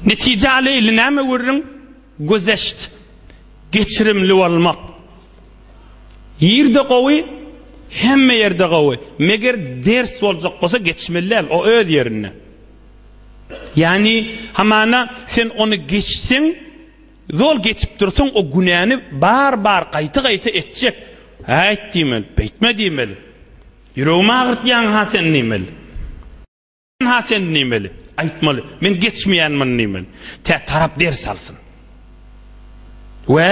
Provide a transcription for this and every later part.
Netije aleyli näme görüň? Gözeşt, geçirimli bolmak. Ýerde gowy, hemme ýerde gowy. Meger ders boljak bolsa geçmeli däl, o öz ýerinde. Ýagny hamana sen ony geçseň, zol geçip dursaň o günäni bar-bar gaýta-gaýta etjek. Äýt diýmeli, beýtme diýmeli. Ýüregimi agyrtýaň-ha sen diýmeli. Ha sen nimeli? Aýtmaly. Men geçmeýänmin nimeli. Tä tarap ders alsyn. We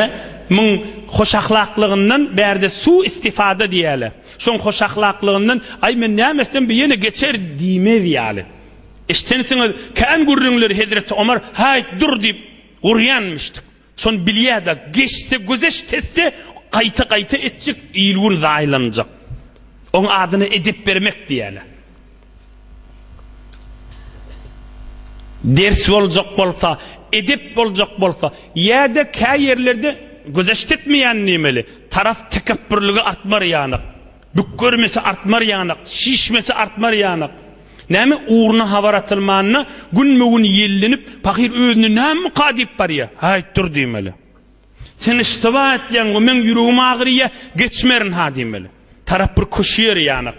muň hoşahlaklygyndan bärde su istifada diýäle. Şoň hoşahlaklygyndan aý men näme etsem bu ýene geçer diýmez ýaly. Eşdensiňiz kän gürrüňleri hezreti Omar haýt dur diýip urýanmyşdyk. Şony bilýädä, geçse gözeş tesse gaýta-gaýta etjek, il-gün zaýalanjak. Oň adyna edep bermek diýýäler. Ders boljak bolsa, edep boljak bolsa, ýa-da käýerlerde gözeş tetmeýän diýmeli, tarap tekepbürligi artmar ýanyk. Bük görmese artmar ýanak, şişmese artmar ýanak. Näme ugruna habar atylmanda günbe-gün ýellenip, pahyr özüne nämka diýip barýar. Haýt dur diýmeli. Sen yştyba etýäň we meň ýüregim agyrýar, geçmerin-ha diýmeli. Tarap bir köşe ýeri ýanak.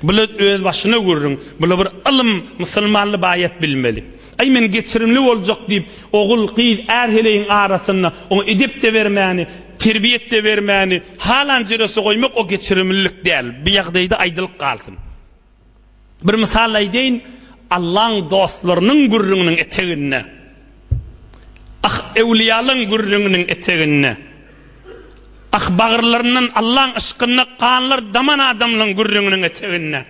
Bula öz başyna gürrüň, bula bir ylym, musulmanly baýat bilmeli. Aý, men geçirimli boljak diýip, ogul, gyz, är heleýiň arasynda oňa edep-de bermäni, terbiýet-de bermäni, halan jürese goýmak o geçirimlilik däl. Bu ýagdaýda aýdylyp galsyn. Bir mysal aýdaýyn, Allaň dostlarynyň gürrüňiniň eteginde, ah, öwliýalaň gürrüňiniň eteginde, ah, bagyrlaryndan Allaň yşkynda ganlar daman adamlaň gürrüňiniň eteginde,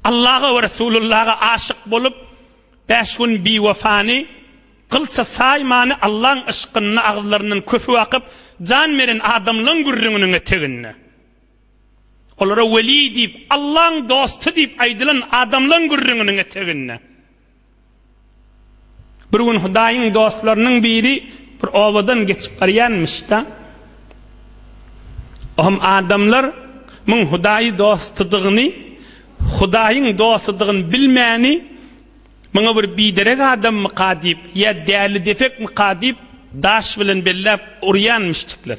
Allaha we Resulullaha aşyk bolup, bäş gün biwefany, gylça saýmany Allaň yşkynda agzylaryndan köpük akyp, jan beren adamlaň gürrüňiniň eteginde. Olara weli diýip, Allaň dosty diýip aýdylan adamlaň gürrüňiniň eteginde. Bir gün Hudaýyň dostlarynyň biri bir obadan geçip barýarmyş-da. O hem adamlar muň Hudaýy dostudygyny, Hudaýyň dostudygyny bilmäni, muňa bir biderek adammyka diýip, ýa däli-depekmika diýip, daş bilen belläp urýarmyşdyklar.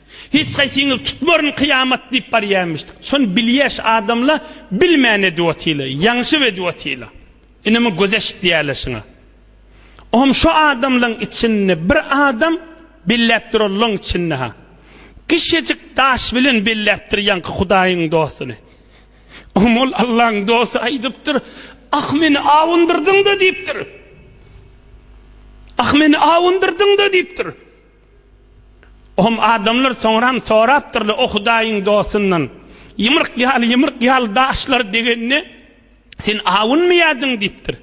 Hiç haýsyňyz tutmaryn kyýamat diýip barýaýmyşdyk. Şony bilýäş adamla bilmän edip otyla, ýaňşyp edip otyla. Inimi göz eşitýäle şuňa. Ohm şu adamlaň içinde bir adam belläp duranlaň içinde ha. Kişejik daş bilen belläpdir ýaňky Hudaýyň dostuny. Ohm ol Allaň dosty aýdypdyr, Ah meni awundyrdyňda diýipdir. Ah meni awundyrdyňda diýipdir. Ohm adamlar soňram sorapdyrlar o Hudaýyň dostundan, Ýumruk ýaly, ýumruk ýaly daşlar degende sen awunmaýardyň diýipdir.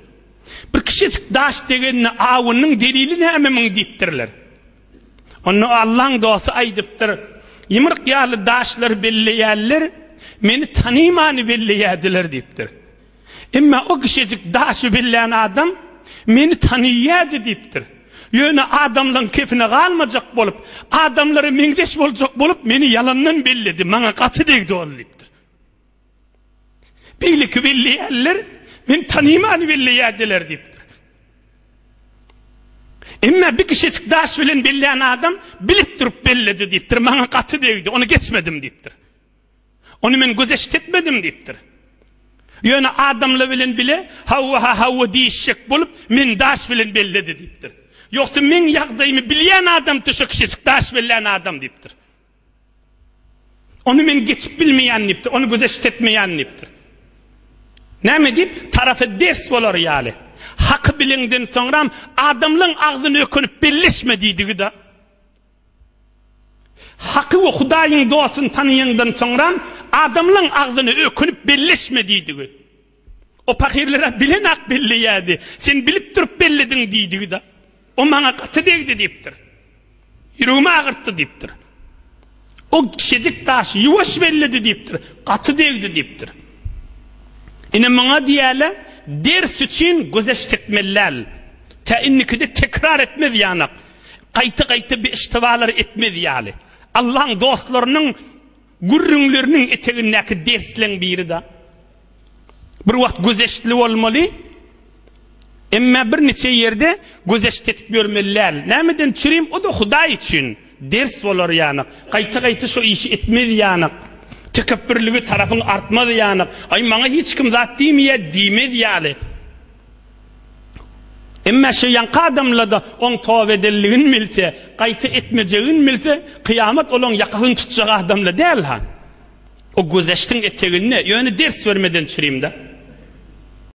Bir kiçijik daş degende awundyň delili näme muň diýipdirler. Onda Allaň dosty aýdypdyr, Ýumruk ýaly daşlar belleýärler, meni tanyman belleýärdiler diýipdir. Emma o kişejik daşy bellän adam meni tanaýýady diýipdir. Ýöne adamlaň kefine galmajak bolup, adamlara meňzeş boljak bolup meni ýalandan belledi, maňa gaty degdi ol diýipdir. Beýleki belleýänler meni tanaýmany belleýädiler diýipdir. Emma bir kişejik daş bilen bellän adam bilip durup belledi diýipdir, maňa gaty degdi, ony geçmedim diýipdir. Ony men gözeşt etmedim diýipdir. Ýöne adamlar bilen bile hawa-ha hawa diýişjek bolup, meni daş bilen belledi diýipdir. Ýogsa meň ýagdaýymy bilýän adamdy şo kişijik daş bellän adam diýipdir. Ony men geçip bilmeýän diýipdir, ony gözeşt etmeýän diýipdir. Näme diýip, tarapa ders bolar ýaly. Haky bilenden soňram adamlaň agzyny ökünip belleşme diýdigi-de. Haky we Hudaýyň dostuny tanaýandan soňram, adamlaň agzyna ökünip belleşme diýdigi. O pahyrlar-a bilen-ak belleýärdi. Sen bilip durup bellediň diýdigi-da. O maňa gaty degdi diýipdir. Ýüregimi agyrtdy diýipdir. O kişejik daşy ýuwaş belledi diýipdir. Gaty degdi diýipdir. Ine muňa diýýärler, ders üçin gözeş tekmeli däl. Tä indikide tekrar etmez ýanak. Gaýta-gaýta beştebalar etmez ýaly. Allaň dostlarynyň gürrüňleriniň etegindäki dersleň biri-de, bir wagt gözeştli bolmaly, emma bir niçe ýerde gözeşt etip ýörmeli däl. Nämeden çürim, o-da Hudaý üçin ders bolar ýanyk. Gaýta-gaýta şo işi etmez ýanyk. Tekepbürligi tarapyň artmaz ýanyk. Aý, maňa hiç kim zat diýmeýär diýmez ýaly. Emma şu ýaňky adamlarda oň toba edenligini bilse, gaýta etmejegini bilse, kyýamat olaň ýakasyny tutjak adamla däl ha. O güzeştiň eteginde, ýöne ders bermeden çürimde.